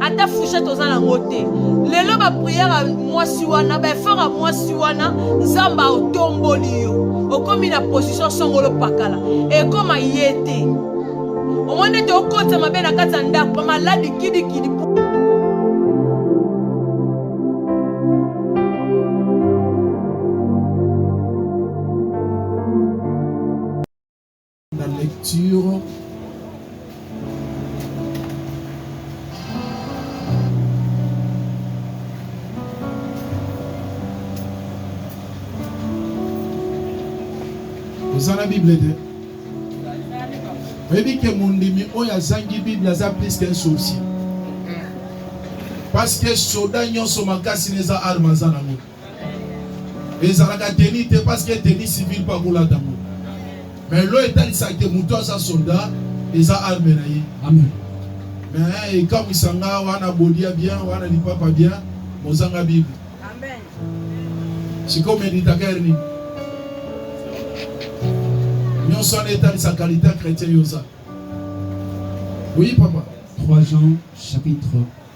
ata fouchette oza nango te lelo bapriere ya mwasi wana baefort ya mwasi wana nzambe aotomboli yo okomi na position songolo pakala ekoma ye te omoni ete okotisa mabe na kati ya ndako bamaladi kidikidi La lecture oza na bible te oyebi ke mondimi oyo azangi bible aza plus qu'un sorcier parce que soda nyonso makasi na eza arme aza nango ezalaka teni te parce que teni civil mpe akolata yango mais lo etalisa ke moto aza soldat eza arme na ye amen mais ekamwisa nga wana bodia bien wana lipapa bien mozanga bible amen sikoyo meditaka ere nini nyonso wana etalisa kalite ya chrétien yo oza oui papa 3 jean chapitre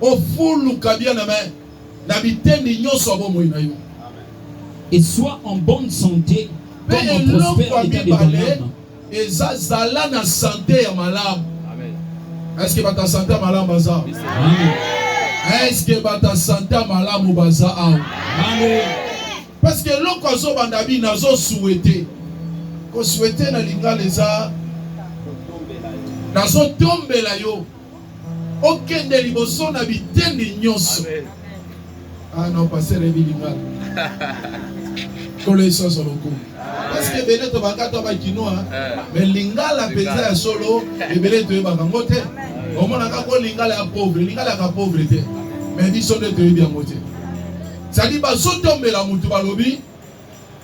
O fulu kabia na main na bitendi nyonso ya bomoi na yo. Et sois en bonne sante Pe comme en eloko prospère ya etat de ton mibale ame. eza zala na sante ya malamu. Est-ce que bato ya sante ya malamu baza awa? Amen. Est-ce que bato ya sante ya malamu baza awa? Amen. Parce que eloko azobanda bi nazo souhaiter. Ko souhaiter na lingala eza nazo tombela yo. okende liboso na bitendi nyonso. Ah non, pasteur Ebilingala. Kolo Yesu azwa lokumu. Parce que ebele tobaka to bakinois, eh. mais lingala mpenza ya solo ebele toyebaka yango te. Omonaka ko lingala ya pauvre, lingala ya pauvre te. Mais biso nde toyebi yango te. Sadi bazotombela motu balobi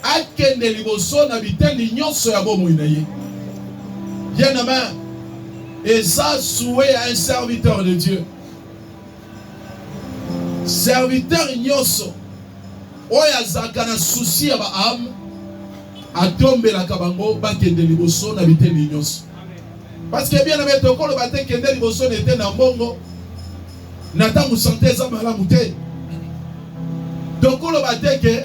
Akende liboso na biteni nyonso ya bomoi na ye. Bien aime, eza souhait ya un serviteur de Dieu. Serviteur nyonso oyo azalaka na souci ya baame atombelaka bango bakende liboso na biteni nyonso. Parce que bien aime, tokoloba te kende liboso na eteni ya mbongo na ntango sante eza malamu te tokoloba te ke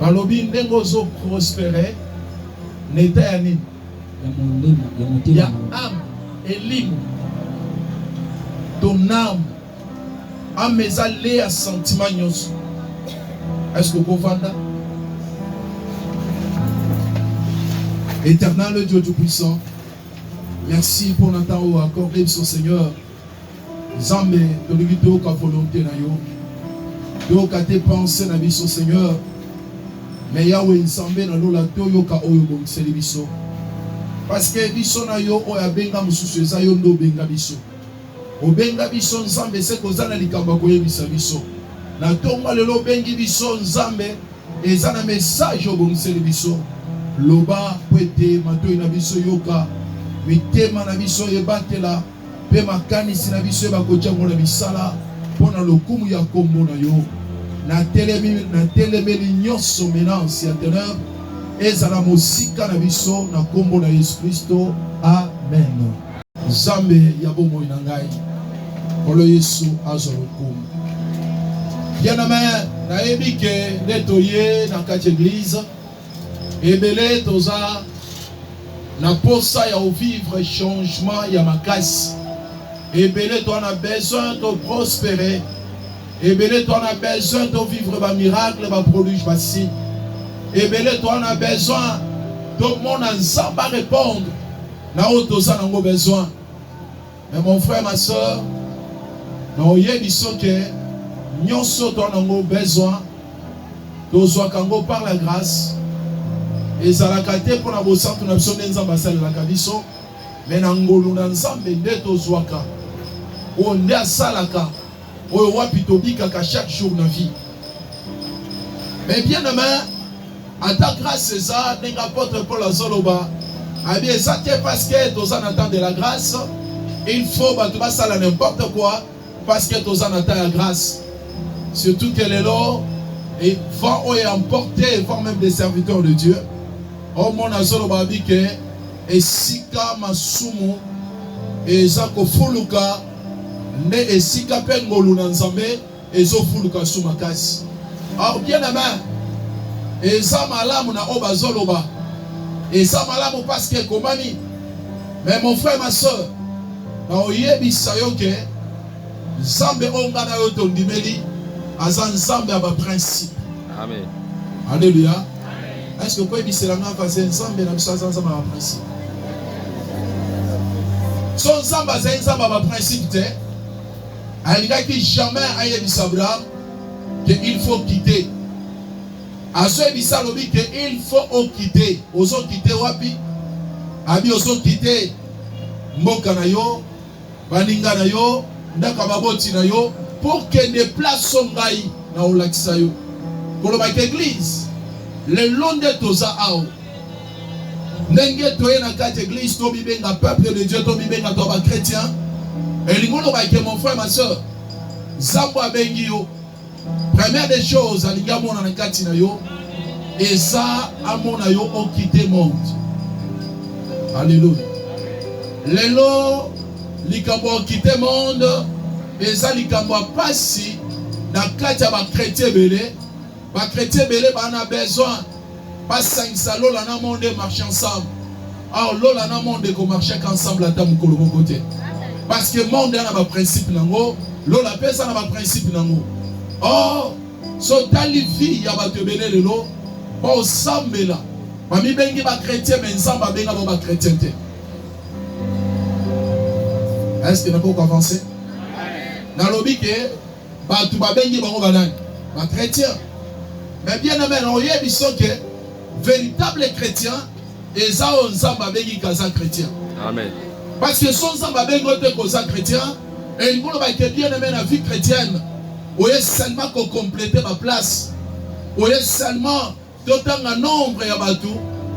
Balobi ndenge ozo prospere na eta ya nini? Ya molimo, ya motema, ya ame, elimo, ton ame. Ame eza le ya sentiment nyonso. Est-ce que okovanda? Éternel Dieu Tout-Puissant, merci pour le temps accordé, Seigneur. Nzambe tolingi toyoka volonte na yo toyoka te pense na biso seigneur me yawe nzambe na lola toyoka oyo obongiseli biso parceke biso na yo oyo abenga mosusu eza yo nde obenga biso obenga biso nzambe se koza na likambo ya koyebisa biso na ntongo lelo obengi biso nzambe eza na message obongiseli biso loba mpo ete matoi na biso yoka mitema na biso ebatela mpe makanisi na biso eyeba kojangwa na misala mpo na lokumu ya nkombo na yo. Natelemi, natelemeli nyonso menace ya teneur ezala mosika na biso na nkombo na Yesu Kristo, amen. Nzambe ya bomoi na ngai, Nkolo Yesu azwa lokumu. Bien amen. Nayebi ke nde toye na kati ya eglize Ebele toza na posa ya o vivre changement ya makasi. Ebele toza na besoin to prospere. Ebele toza na besoin to vivre ba miracle, ba produits, ba signes. Ebele toza na besoin to mona Nzambe a répondre na oyo toza nango besoin. Mais mon frère, ma soeur, na oyebi so que nyonso to nango besoin tozwaka yango par la grâce ezalaka te mpo na bosantu na biso nde nzambe asalelaka biso me na ngolu na nzambe nde tozwaka oyo nde asalaka oyo wapi tobikaka chaque jour na vie mais bien aimé ata grâce eza ndenge apôtre paul azoloba abi eza te parce que toza na temps de la grâce il faut bato basala n'importe quoi parce que toza na temps ya grâce surtout que lelo et vent oyo emporte vent même des serviteurs de dieu omona oh, azoloba abi ke esika masumu eza kofuluka Nde esika pe ngolu na Nzambe ezo fuluka su makasi. Or bien aime, eza malamu na oyo bazo loba, eza malamu parce que ekomami. Mais mon frère, ma soeur, na oyebisa yo ke Nzambe oyo nga na yo tondimeli aza Nzambe ya ba principe. Amen. Alléluia. Est-ce que kwe bisela nga vaze nzambe na biso aza nzambe ba principe. So nzambe azali nzambe ba principe te. Alingaki jamais ayebisa Abraham que il faut quitter. Azoyebisa alobi que il faut okite. Ozo kite wapi? Abi ozo kite mboka na yo Baninga na yo, ndako ya baboti na yo, po kende place oyo ngai naolakisa yo. Kolobaka eglise, lelo nde toza awa. Ndenge toye na kati eglise, to mibenga peuple de Dieu, to mibenga to ba chretien. Elingi oloba ke mon frère, ma soeur, Zambo abengi yo. Première des choses alingi amona na kati na yo eza amona yo okite monde. Alléluia. Lelo likambo okite monde eza likambo ya pasi na kati ya bakretien ebele bakretien ebele bana besoin basangisa lola na monde marche ensemble alors ah, lola na monde eko marche ensemble ata mokolo moko te parce que monde a na ba principe nango lola mpe eza na ba principe nango or so tali vie ya bato ebele lelo baosambela bamibengi bakretien me nzambe abenga bango bakretien te est ce que nakoki koavanse nalobi ke Batu babengi bango banani? Ba chretien. Mais bien aimé, oyebi soki véritable chrétien eza oyo Nzambe abengi kaza chrétien. Amen. Parce que son Nzambe abengi oyo te koza chrétien, elingi oloba ke bien aimé na vie chrétienne, oye seulement ko completer ba place, oye seulement To tanga nombre ya batu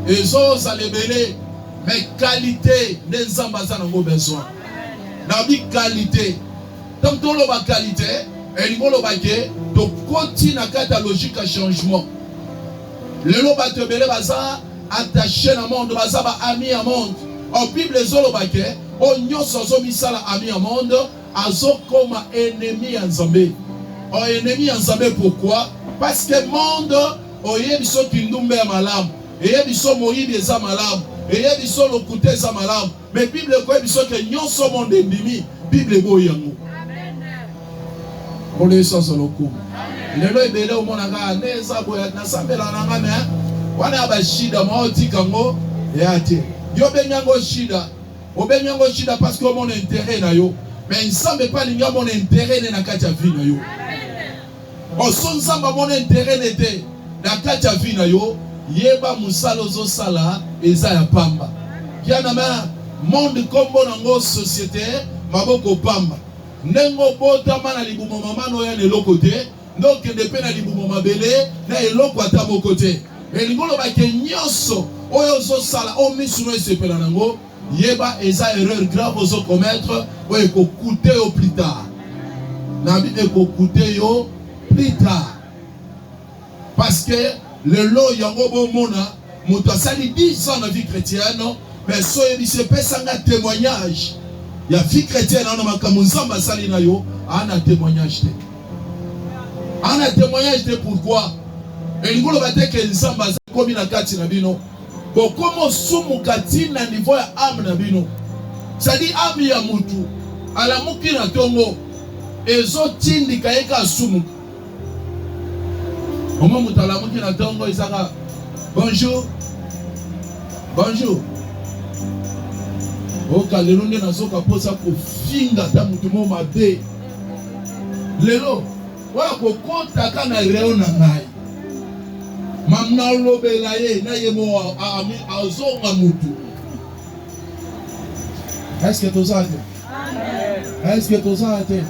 ezo zala ebele mais qualite nde Nzambe aza nango besoin. Na bi qualite. Donc to loba qualite elingi oloba ke to koti na kati ya logique ya changement. Lelo batu ebele baza attache na monde, baza ba amis ya monde. Or Bible ezo loba ke oyo nionso azo misala ami ya monde azokoma ennemi ya Nzambe. O ennemi ya Nzambe pourquoi? Parce que monde oye biso kindumba ya malamu, eye biso moyibi eza malamu, eye biso lokuta eza malamu. Mais Bible ekoye biso ke nyonso monde endimi, Bible eboyi yango. Nkolo Yesu azwa lokumu. Lelo ebele omona nga nde eza boya nasambela na nga mais wana ya bashida mwa otika yango ya te. Yo bengi yango shida Obengi yango shida parce que omona interet na yo. Mais Nzambe pe alingi amona interet ne na kati ya vie na yo. Oso Nzambe amona interet ne te na kati ya vie na yo, yeba mosala ozo sala eza ya pamba. Kiana ma monde kombo na ngo societe maboko pamba. Ndenge obotama na libumu mama no ya na eloko te. nde okende mpe na libumu mabele na eloko ata moko te. Elingi koloba ke nyonso oyo ozosala oyo miso no esepela nango, yeba eza erreur grave ozo commettre oyo eko coute yo plus tard. Na bi eko coute yo plus tard. Parce que lelo yango bomona mutu asali 10 ans na vie chretienne mais so oyebisi ye pesa nga temoignage ya vie chretienne ana makambo nzambe asali na yo ana temoignage te ana temoignage te pourquoi elingi oloba te ke nzambe aza komi na kati na bino bokoma osumuka ti na niveau ya ame na bino sadi ame ya mutu alamuki na tongo ezotindika ye ka asumuka Omwa moto alamuki na ntongo ezaka bonjour bonjour oka lelo nde nazoka mposa kofinga ata moto moko mabe lelo oyo akokotaka na reo na ngai mam nalobela ye na ye moko azonga motu eske toza te eske tozala te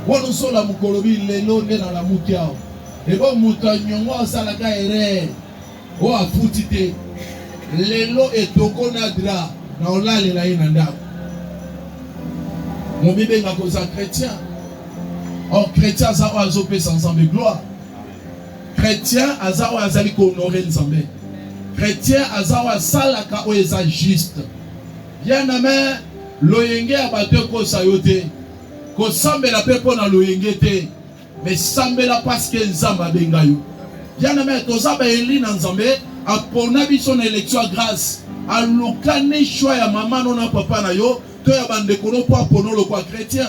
wana osola mokolobi lelo nde nalamuki awa ebo moto ya nyongo asalaka erreur oyo afuti te lelo etoko na dra na olalela ye na ndako momibenga koza chrétien or chrétien aza oyo azopesa nzambe gloire chrétien aza oyo azali kohonore nzambe chrétien aza oyo asalaka oyo eza juste Bien aime, loyenge ya bato ekosa yo te. Kosambela pe mpo na loyenge te. Mais sambela parce que Nzambe abenga yo. Bien aime, toza ba eli na Nzambe, apona biso na election ya grâce. Alukani choix ya mama no na papa na yo to ya bandeko no mpo apona yo lokola chretien.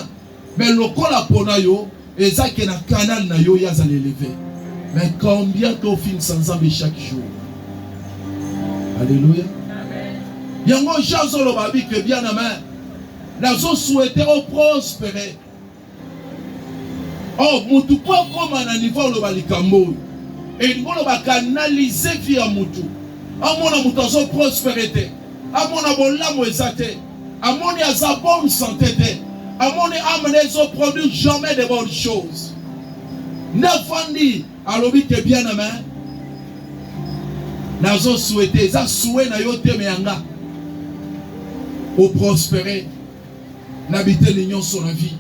Mais lokola pona yo eza ke na canal na yo yaza l'eleve. Mais combien to film sans nzambe chaque jour. Alléluia. Yango Jean Zolo babi que bien amen. Nazo souhaiter au prospérer. Oh, mutu po akoma na niveau oloba likambo oyo elingi oloba kanalize vi ya mutu amona moto azoprospere te amona bolamu eza te amoni aza bonne santé te amoni ame na ezo produire jamais de bonne chose nde afandi alobi te bien na main nazo souhaite eza souhait na yo te me yanga oprospere na biteni nyonso na vie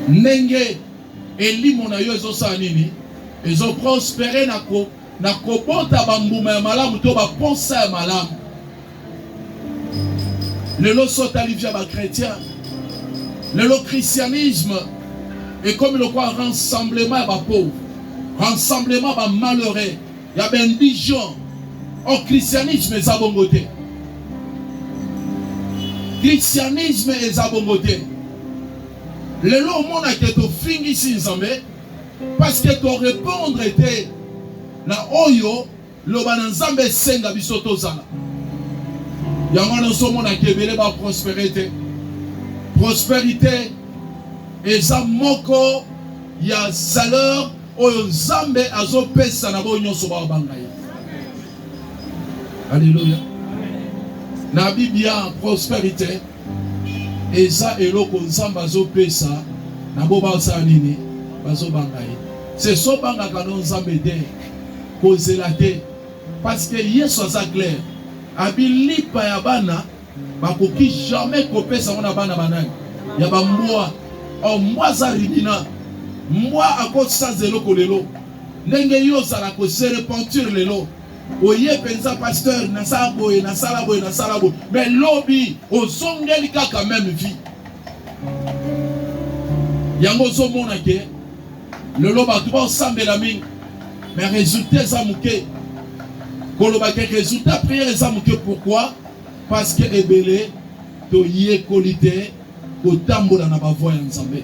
ndenge elimo na yo ezosala nini ezoprospere na ko na kobota bambuma ya malamu to baposa ya malamu. Lelo so otali via bakretien, lelo christianisme ekomi lokola rassemblement ya bapauvre, rassemblement ya bamalheureux, ya baindigent. Or christianisme eza bongo te, christianisme eza bongo te. lelo omonake tofingisi nzambe Parce que to répondre était na oyo loba na nzambe esenga biso tozala yango wana ozomonaka ebele baprospere te prosperité eza moko ya saleur oyo nzambe azopesa na boyo nyonso babanga ye aleluya na biblia prosperité eza eloko nzambe azopesa na bo basala nini bazobanga ye seso bangaka no nzambe te kozela te parceke yesu aza claire abilipa ya bana bakoki jamais kopesa yango na bana banani ya bambwa o oh, mbwa aza rimina mbwa akosisa eloko lelo ndenge yo ozala kose repentir lelo oye penza pasteur nasala boye nasala boye nasala boye mais lobi ozongeli kaka meme vie yango ozomona ke lelo bato baosambela mingi mais résultat eza moke koloba ke résultat prière eza moke pourquoi parce que ebele toyekoli te kotambola na ba voies ya Nzambe.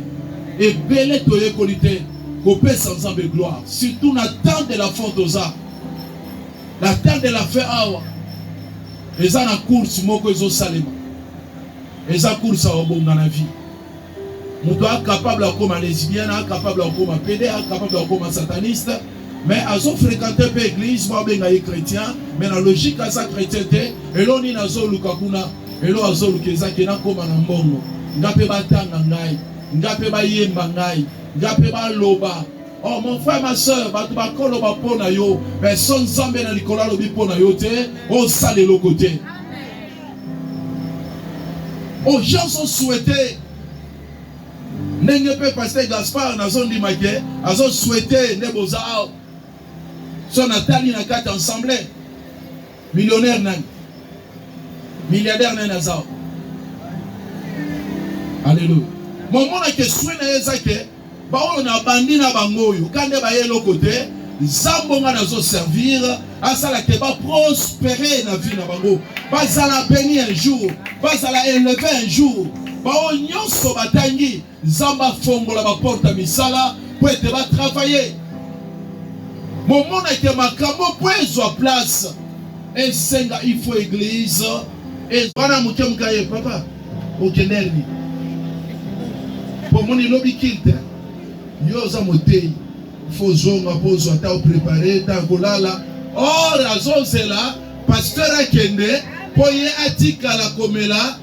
Ebele toyekoli te kopesa Nzambe gloire, surtout na temps de la fin toza. Na temps de la fin awa eza na course moko ezosalema, eza course ya obonga na vie. Moto a capable akoma lesbienne, a capable akoma pede, a capable akoma sataniste. mais azo fréquenter pe église ba benga ye chrétien mais na logique aza chrétien te elo nini azo luka kuna elo azo luka eza ke nakoma na mbongo nga pe batanga ngai nga pe bayemba ngai nga pe baloba Oh mon frère, ma soeur, bato bakoloba mpo na yo, mais so Nzambe na likolo alobi mpo na yo te, osala eloko te. Aux gens ont souhaité Ndenge pe Pasteur Gaspard nazo ndima ke azo souhaiter nde boza awa. So na tali na kati ensemble millionnaire nani? Milliardaire nani aza awa? Alléluia. Momona ke souhait na ye eza ke baoyo na bandi na bango oyo kande baye eloko te zambo nga nazo servir asala te baprospere na vie na bango bazala beni un jour bazala eleve un jour baoyo nyonso batangi nzambe afongola baporte ya misala mpo ete batravaye bomona ete makambo mpo ezwa place esenga ifo eglise wana moke moka ye papa okenderni mpo omoni lobi kilte yo oza moteyi faut zonga po ozwa ta oprepare ta kolala or azozela pasteur akende po ye atikala komela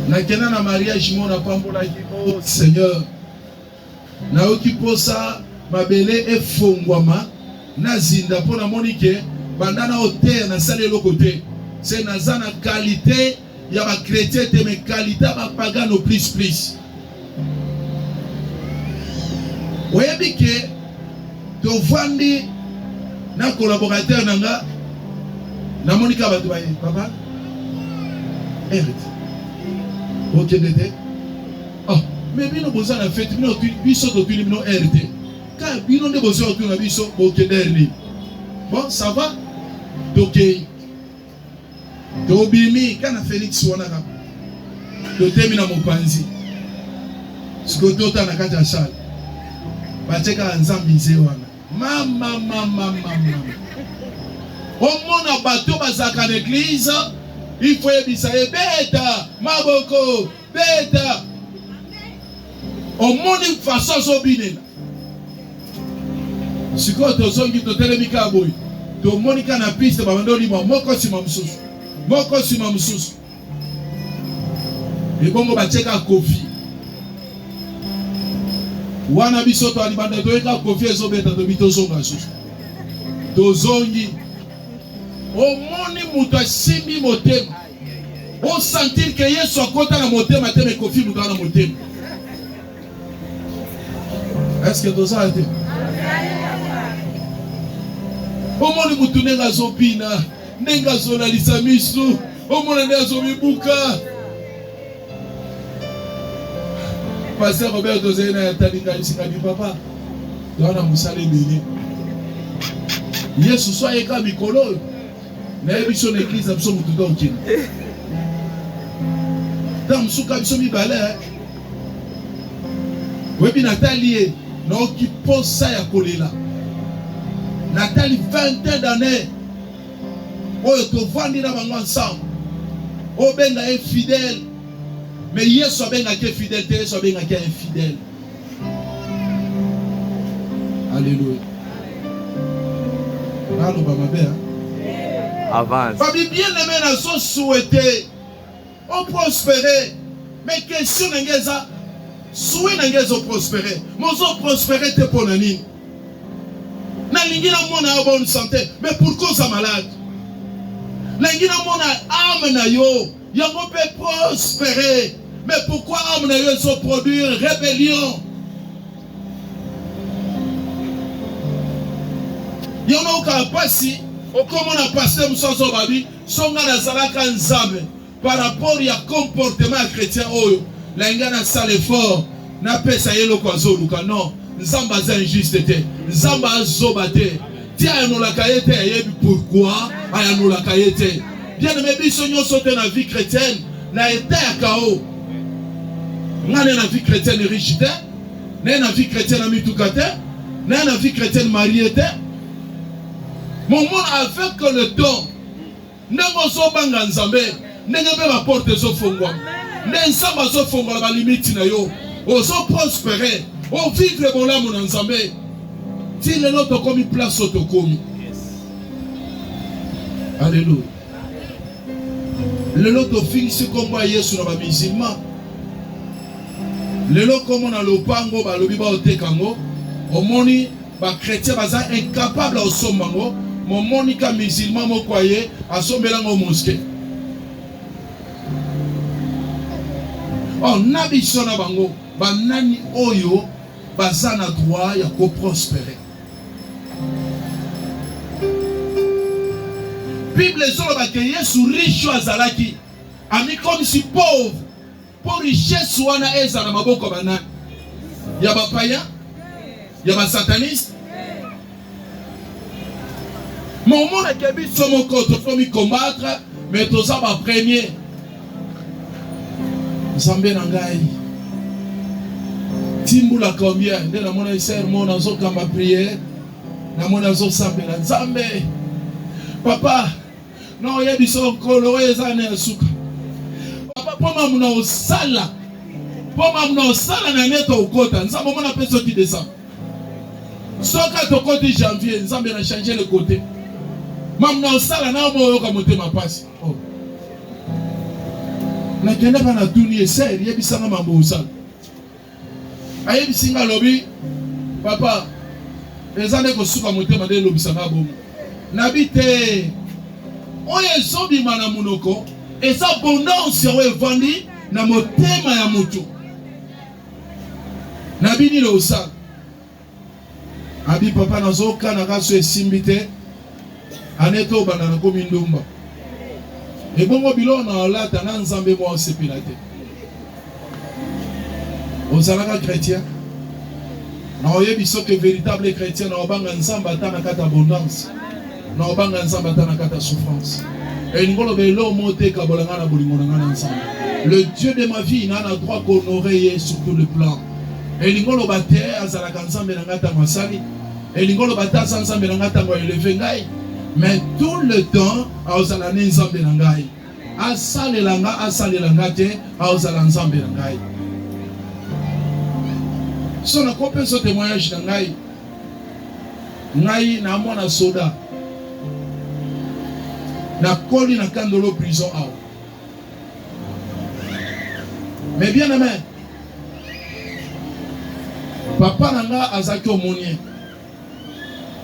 nakenda na mariage mona pambolaki o oh, seigneur Nayoki mposa mabele efongwama na zinda mpo namoni ke banda na oteya nasali eloko te se naza na kalite ya bakretien te me kalite ya bapagano plus plus oyebi ke tovandi na collaborateur na nga namoni ka bato baye papa erite okende te Oh, mais bino boza na fete bino biso totuni bino heure te ka bino nde boza kotuna biso bokende heure nini bon ça va tokei tobimi ka na felix wana kaka totemi na mopanzi sikoyo tota na kati ya sale batie kaka nzambe nze wana mama mama mama omona bato bazalaka na eglize ifo yebisa ebeta maboko Beta. Omoni façon azobinela. Sikoyo tozongi totelemi kaka boye. Tomoni kaka na piste babanda olima moko nsima mosusu. Moko nsima mosusu. Ebongo batieka kofi. Wana biso to alibanda toyeka kofi ezobeta tobi tozonga susu. Tozongi. Omoni moto asimbi motema. o sentir que Yesu akota na motema te mais Koffi Olomide na motema est-ce que tozala te omoni mutu ndenge azobina ndenge azolalisa misu omona nde azomibuka paster robert tozali na yatalinganisikabi papa towana mosala ebele yesu so ayeka mikolo oyo naye biso na eglise na biso motu nde okende ntango mosusu ka biso mibale oyebi natali ye naoki mposa ya kolela natali 20 d'année oyo tovandi na bango ensemble obenga ye fidèle mais yesu abengaki ye fidèle te yesu abengaki ye infidèle Alléluia. Nalo ba mabe hein? Avance. Babi bien aimé na so souhaité. On prospérer. Mais question na ngeza souhait na ngeza prospérer. Mozo prospérer te pona nini? nalingi namona yo bonne santé mais pourquoi oza malade nalingi namona ame na yo Yango pe prospere. Mais pourquoi homme na yo ezo produire rebellion? Yango nayoka pasi okomona pasteur mosusu azobabi so ngai nazalaka nzambe par rapport ya comportement ya chrétien oyo nalinga nasala effort Napesa ye eloko azoluka non. Nzambe aza injuste te. Nzambe azoba te. Ti ayanolaka ye te ayebi pourquoi ayanolaka ye te. Bien aimé biso nyonso te na vie chrétienne na etat ya chaos. Nga na vie chrétienne riche te. Na na vie chrétienne na mituka te. Na na vie chrétienne marié te. Mon avec le temps ndenge ozobanga nzambe ndenge mpe baporte ezofongwa nde nzambe azofongola balimiti na yo ozoprospere ovivre bolamu na nzambe ti lelo tokomi place oyo tokomi aleluya lelo tofingisi nkombo ya yesu na bamizilma lelo nkombo na lopango balobi baoteka yango omoni Ba chretien baza incapable ya kosomba ngo, momoni ka musulman moko aye asombela ngo mosquee. Oh, na biso na bango banani oyo baza na droit ya ko prospere? Bible ezoloba ke Yesu riche azalaki amikomisi pauvre Po richesse wana ezala maboko ba nani? Ya ba paya? Ya ba sataniste? Mais omona ke biso moko tokomi combattre mais toza ba premier. Nzambe na ngai timbula combien nde namona eser mo nazokamba priere namona azosambela nzambe papa na oyebi so nkolo oyo eza na ya suka papa mpo mamu na osala mpo mamu na osala na nete okota nzambe omona mpe soki desembre soki tokoti janvier nzambe na change le kote mamu na osala na omoyoka motema mpasi oh. nakendaka na tuni ese yebisanga mambo osala ayebisi nga alobi papa eza nde kosuka motema nde elobisa nga bongo nabi te oyo ezobima na monoko eza abondance yango evandi na motema ya moto nabi nini osala abi papa nazoka na kaso esimbi te ane to banda na komi ndumba ebongo biloko na olata na nzambe mwa osepela te ozalaka chrétien na oyebi soki veritable chrétien na obanga nzambe ata na kati abondance Na obanga Nzambe ata na kati ya souffrance. Elingi koloba eloko moko te ekabola ngai na bolingo na ngai na Nzambe. Le Dieu de ma vie na na droit ko honorer ye sur tout le plan. Elingi koloba te azalaka Nzambe na ngai ntango asali. Elingi koloba te aza Nzambe na ngai ntango eleve ngai. Mais tout le temps aozala ne Nzambe na ngai. Asalela ngai, asalela ngai te, aozala Nzambe na ngai. So na kopeso témoignage na ngai ngai na mwana soda nakoli na kandolo prison awa mais bien aimé papa na nga azalaki omonien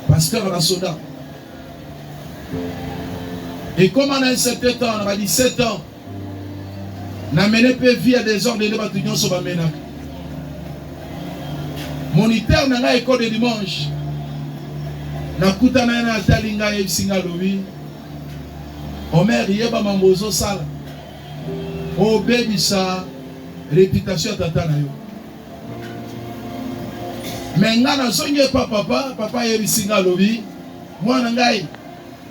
pasteur na soda ekoma na 17 ans na ba 17 ans na mene mpe vie ya desordre nde bato nyonso bamenaka moniteur na ngai ekode dimanche nakutana ye na atali ngai ayebisi ngai alobi omer yeba mambo ozosala obebisa reputation ya tata na yo me ngai nazongi epa papa papa ayebisi ngai alobi mwana ngai